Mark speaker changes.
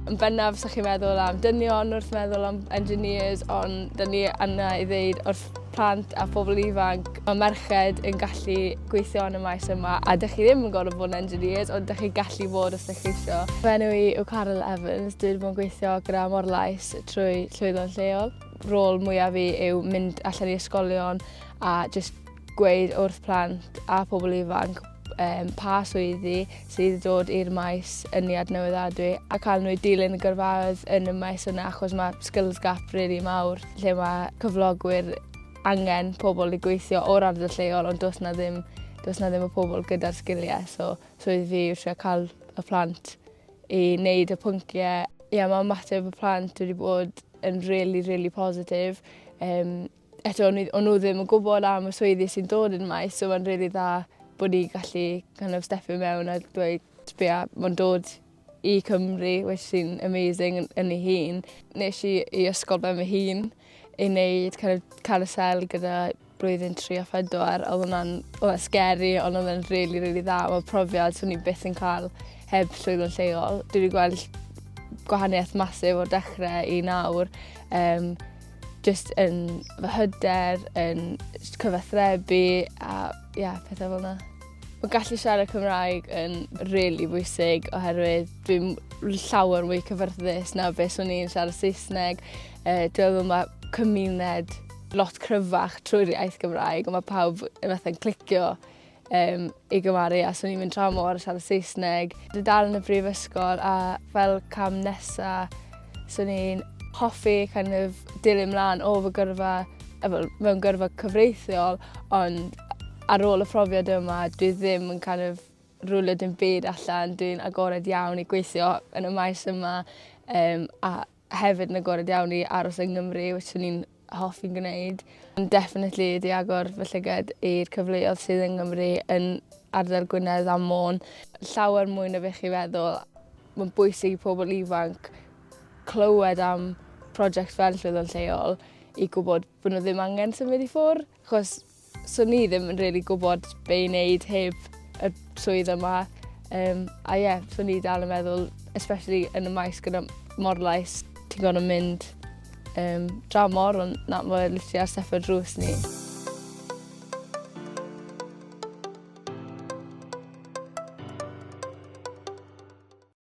Speaker 1: Yn bennaf, sa chi'n meddwl am dynion wrth meddwl am engineers, ond dyn ni yna i ddeud wrth plant a phobl ifanc, mae merched yn gallu gweithio yn y maes yma, a dych chi ddim yn gorfod bod yn engineers, ond dych chi gallu bod os dych chi eisiau. Fy enw i yw Carol Evans, dwi'n bod yn gweithio gyda Morlais trwy llwyddo'n lleol. Rôl mwyaf fi yw mynd allan i ysgolion a just gweud wrth plant a phobl ifanc pa swyddi sydd wedi dod i'r maes ynni adnewyddadwy a cael nhw i dilyn y gyrfaoedd yn y maes yna achos mae skills gap really mawr lle mae cyflogwyr angen pobl i gweithio o'r ardal lleol ond does na ddim, does na ddim y pobl gyda'r sgiliau so swyddi fi yw trio cael y plant i wneud y pynciau. Ie, mae ymateb y plant wedi bod yn really, really positif. Um, eto o'n nhw o'n nhw ddim yn gwybod am y swyddi sy'n dod yn y maes so mae'n rili dda bod ni'n gallu kind of stepio mewn a dweud sbia ma'n dod i Cymru which sy'n amazing yn, yn ei hun. Nes i i ysgol ben fy hun i wneud kind of carousel gyda blwyddyn 3 a 4 oedd hwnna'n oedd o'n scary ond oedd o'n rili really, rili dda oedd profiad swn i byth yn cael heb llwyddo'n lleol. Dwi wedi gweld gwahaniaeth masif o'r dechrau i nawr. Um, Just yn fy hyder, yn cyfathrebu a yeah, pethau fel yna. Mae gallu siarad Cymraeg yn rili really bwysig oherwydd dwi'n llawer mwy cyfyrddus na beth o'n i'n siarad Saesneg. E, dwi'n meddwl mae cymuned lot cryfach trwy'r iaith Gymraeg, ond mae pawb yn fatha'n clicio um, i gymaru a swn i'n mynd tra mor siarad Saesneg. Dwi dal yn y brifysgol a fel cam nesa swn i'n hoffi kind of dilyn mlaen o fy gyrfa mewn gyrfa cyfreithiol ond ar ôl y profiad yma dwi ddim yn kind of rwylio dim byd allan dwi'n agored iawn i gweithio yn y maes yma um, a Hefyd yn agored iawn i aros yng Nghymru which o'n i'n hoffi'n gwneud. Ond definitely ydi agor fy llyged i'r cyfleodd sydd yng Nghymru yn ardal Gwynedd a Môn. Llawer mwy na be' chi feddwl. Ma'n bwysig i pobol ifanc clywed am project fel Swyddfa'n Lleol i gwbod bo' n'w ddim angen symud i ffwr' 'chos So ni ddim yn really gwybod be i wneud heb y swydd yma. Um, a ie, yeah, so ni dal yn meddwl, especially yn y maes gyda morlais, ti'n gorfod mynd um, draw mor, ond na, mae'n literally ar step o drws ni.